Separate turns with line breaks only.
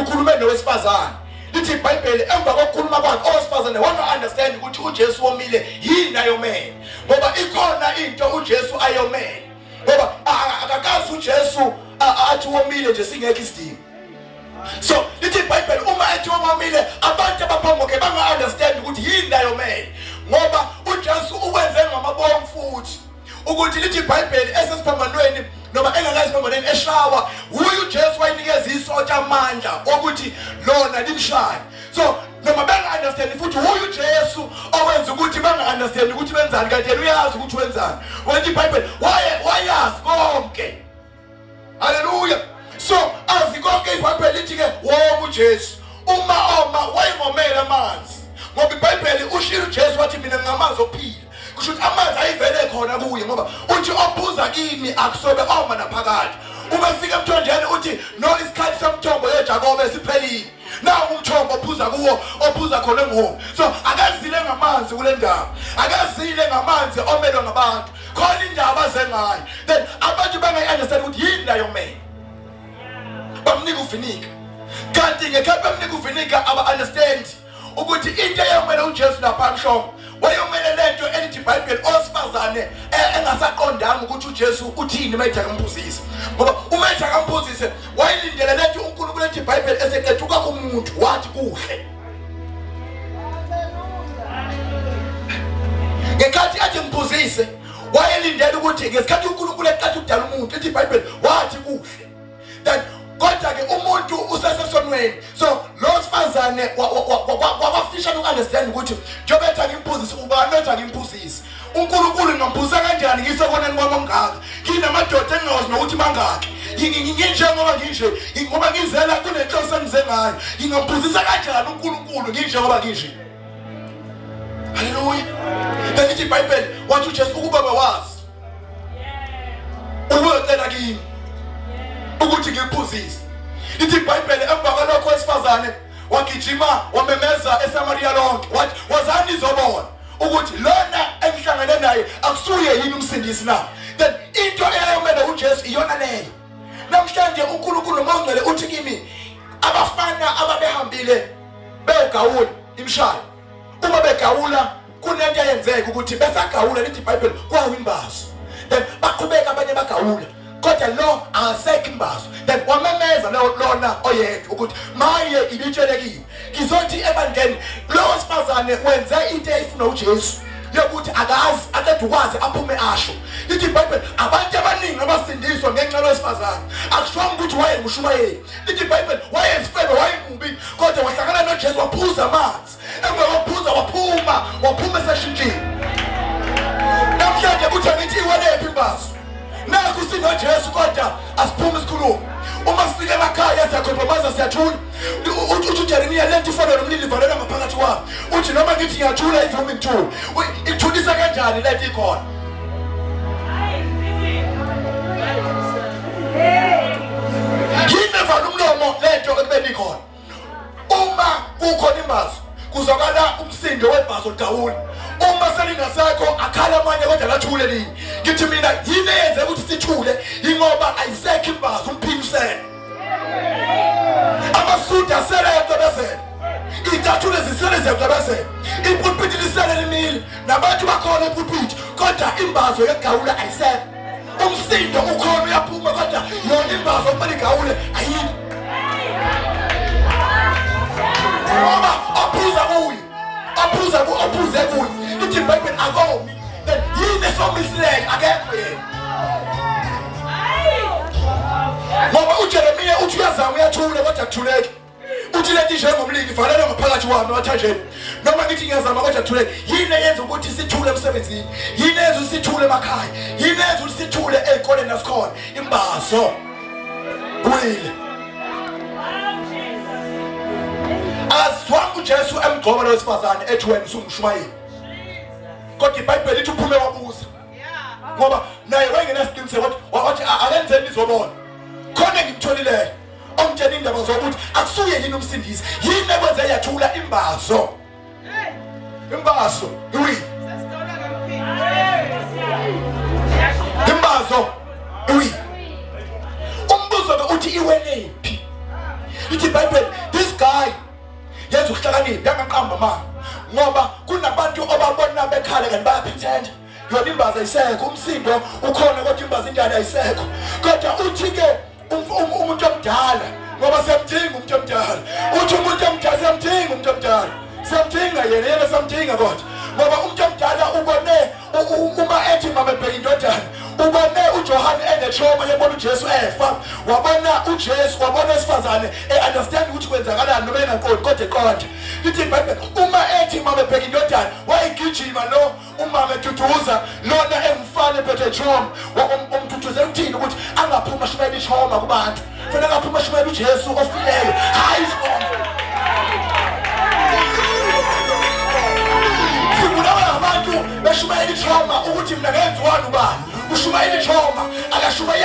ukhulume nowesifazane lithi ibhayibheli emva kokukhuluma kwakhe owesifazane wanga-understand ukuthi ujesu womile yini ayomele ngoba ikhona into ujesu ayomele ngoba akakazi ujesu athi womile nje singekho isidingo so lithi ibhayibheli uma ethi womile abantu abaphamboke banga-understand ukuthi yini ayomele ngoba ujesu ukwenze ngamabomfuthi ukuthi lithi ibhayibheli esesiphambanweni noma engakaziphambanweni eshawa wuye ujesu wayinikeza isotsha amandla okuthi lona limshaye so noma benga-understandi futhi wuye ujesu owenza ukuthi benga-understandi ukuthi benzani kanti yena uyazi ukuthi wenzani wenza ibhayibheli wayazi konke haleluya so azi konke ibhayibheli lithi-ke wonke ujesu uma oma wayengomele amanzi ngoba ibhayibheli ushilo ujesu wathi mina nginamanzi okuphila kusho ukuthi amanzi ayivele khona kuye ngoba uthi ophuza kimi akusobe oma naphakathi uma fika emthonjeni uthi no isikhathi somthombo yejakobe siphelile nawo umthombo ophuza kuwo ophuza khona enghomu so akazile ngamanzi kule ndawo akazile ngamanzi omelwe ngabantu khona indaba azengayo then abantu bangayi-understand ukuthi yini layo mele bamnika uvinika kanti ngekhathi bamnika uvinika aba-understand ukuthi into eyomele ujesu lapha mhlongo wayomele le nto elithi ibhayibheli owesifazane e, engasaqondanga ukuthi ujesu uthini uma ethi akamphuzise ngoba uma ethi akamphuzise wayelindele le nto unkulunkulu ethi ibhayibheli eseqeda ukwakho umuntu wathi kuhle ngekhathi athi ngibuzise wayelindela ukuthi ngesikhathi uNkulunkulu eqatha ukudala umuntu ethi iBhayibheli wathi kuhle that kodwa ke umuntu usesesonweni so lo sifazane wakwafishana ukunderstand ukuthi njengoba ethi angimbuzise ubani othi angimbuzise unkulunkulu ngambusa kanjani ngisekoneni kwami ongaka nginamadoda engingawazi nokuthi mangaki nginjengoba nginje ngoba ngizela kunenhloso engize ngayo ngingambuzisa kanjani unkulunkulu nginjengoba nginje haleluya bengithi ibhayibheli wathi ujesu ukuba bewazi ubuyocela kimi ukuthi ngikuphuzise lithi ibhayibheli emva kwalokho wesifazane wagijima wamemeza esamariya lonke wathi wazani izobona ukuthi lona engihlangene naye akusuye yini umsindisi na then into eyayomele uJesu iyona leyo namhlanje uNkulunkulu noma ungcwele uthi kimi abafana ababehambile begawula imshaya uma begawula kunento eyenzeka ukuthi besagawula lithi iBhayibheli kwawimbazo then baqhubeka abanye bagawula kodwa lo akasekho imbazo then wamemeza lona oyedwa ukuthi maye ibitshelekiwe ngizothi ebandleni lo wesifazane wenze into eyifuna ujesu yokuthi akazi akade ukwazi aphume asho lithi ibhayibheli abantu abaningi abasindiswa ngenxa lwesifazane akushongo ukuthi wayengushumayeli lithi ibhayibheli wayesifebe wayemubi kodwa wahlangana nojesu waphuza amanzi emva kokuphuza waphuma waphuma eseshintshile namhlanje kuthiwa ngithi iwelephi imbazo nakho sinojesu kodwa asiphume isikhulumo uma sifika emakhaya siyakhompromise siyathula uthi ujeremiya le nto ifana nomlilo ivalela ngaphakathi kwami uthi noma ngithi ngiyathula ivumi ngithula ikuthulisa kanjani le nto ikhona yini evala umlomo le nto ekubeni ikhona uma kukhona imbazo kuzwakala umsindo webhazo dawula uma selingasekho akhala amanye kodwa lathule lini ngithi mina yini eyenze ukuthi sithule ingoba ayisekho imbazo umphimisele amasudu asele yacebezela iy'tathule zisele ziyacebezela ipulpiti lisele limile nabantu bakhona epulpiti kodwa imbazo yegawula ayisekho umsindo ukhona uyaphuma kodwa yona imbava kumele igawule ayini ngoba ophuza kuye ophuza ku ophuze kuye ithi ibhayibheli akomi then yini esomisileyo akekho yena ngoba ujeremiya uthi uyazama uyathule kodwa kuthuleki uthi leti njengomlindi valelwe ngaphakathi wami wathanjeni noma ngithi ngiyazama kodwa thule yini eyenza ukuthi sithule emsebenzini yini eyenza ukuthi sithule emakhaya yini eyenza ukuthi sithule ey'koleni nasikhona imbazo wile azwanga ujesu emgcoba lo wesifazane ethi wena usungushumayeli kodwa ibhayibheli lithi uphume wabuza ngoba naye wayengenasiqiniseko wathi akenzeni izobona khona ngimtholileyo omtshela indaba zokuthi akusuye yini umsindisi yini ekwenze yathula imbazo imbazo iwi imbazo iwi umbuzo ke uthi iwelephi ithi bible this guy yenza ukuhlakanipha yangaqamba manje ngoba kunabantu obabona bekhala kanti bayaphithenda yona imbaza isekho umsindo ukhona kodwa imbaza indala ayisekho kodwa uthi-ke um-, um-, umuntu omdala ngoba siyamdinga umuntu omdala uthi umuntu omdala siyamdinga umuntu omdala siyamdinga yena yena siyamdinga kodwa ngoba umuntu omdala ubone uma ethi mama ebheka indodana ubone ujohane enetroma yebona ujesu efa wabona ujesu wabona esifazane e-understand ukuthi kwenzakalani noma engankoli kodwa eqonda lithi ibhayibheli uma ethi mama ebheka indodana wayigijima lo umama eduduza lona engumfana ephethe jom umduduze uthini ukuthi angaphuma shumela ishoma kubantu fanele angaphuma shumela ujesu ofileyo hayi isibongo sibulawa abantu beshumayela ichoma ukuthi mna ngenziwani ubani ushumayela ichoma akashumayela